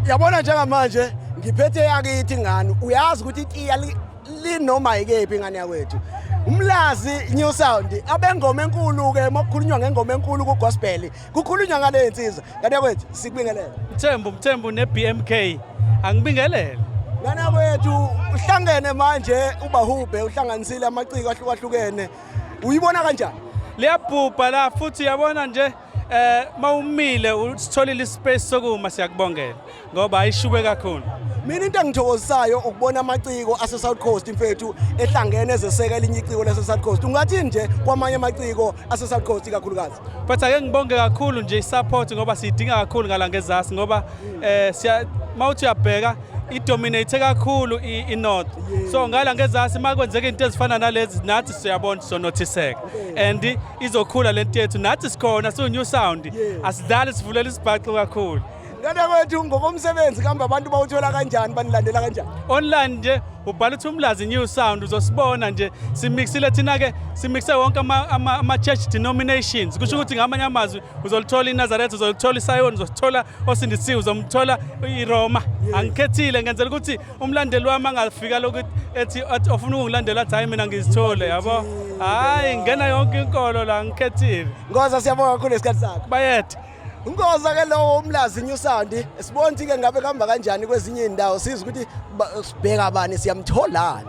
yabona njengamanje ngiphethe yakithi ngani uyazi ukuthi itiya linoma ikephi ingane yakwethu umlazi new sound abengoma enkulu ke mokukhulunywa ngengoma enkulu ku gospel kukhulunywa ngale insizwa kanti yakwethu sikubingelele mthembu mthembu ne BMK angibingelele ngane yakwethu uhlangene manje ubahubhe uhlanganisile amaciko ahlukahlukene uyibona kanjani liyabhubha la futhi yabona nje Eh mawumile usitholile ispace sokuma siyakubongela ngoba ayishube kakhulu. Mina into engithokozisayo ukubona amaciko ase South Coast mfethu ehlangene ezeseka elinye iciko lase South Coast. Ungathi nje kwamanye amaciko ase South Coast ikakhulukazi. But ake ngibonge kakhulu nje isupport ngoba sidinga kakhulu ngala ngezasi ngoba eh siya mawuthi uyabheka idominate kakhulu inorth so ngala ngezasi makwenzeka into ezifana nalezi nathi siyabona sonothiseka and izokhula lento yethu nathi sikhona siwu new sound yeah. asidlali sivulela isibhaxu kakhulu ngane kwethu ngokomsebenzi kambe abantu bawuthola kanjani banilandela kanjani online nje ubhala ukuthi umlazi new sound uzosibona nje simixile thina ke simixe wonke ama, ama, ama church denominations kusho ukuthi ngamanye amazwi uzolithola iNazareth uzolithola iSion uzosithola osindisiwe uzomthola iRoma angikhethile ngenzela ukuthi umlandeli wami angafika lokuthi ethi ofuna ukungilandela athi hayi mina ngizithole yabo hayi ngena yonke inkolo la ngikhethile ngoza siyabonga kakhulu esikhathi sakho bayethe Ngoza ke lowo umlazi New Sound sibona ukuthi ke ngabe kuhamba kanjani kwezinye indawo siza ukuthi sibheka bani siyamtholani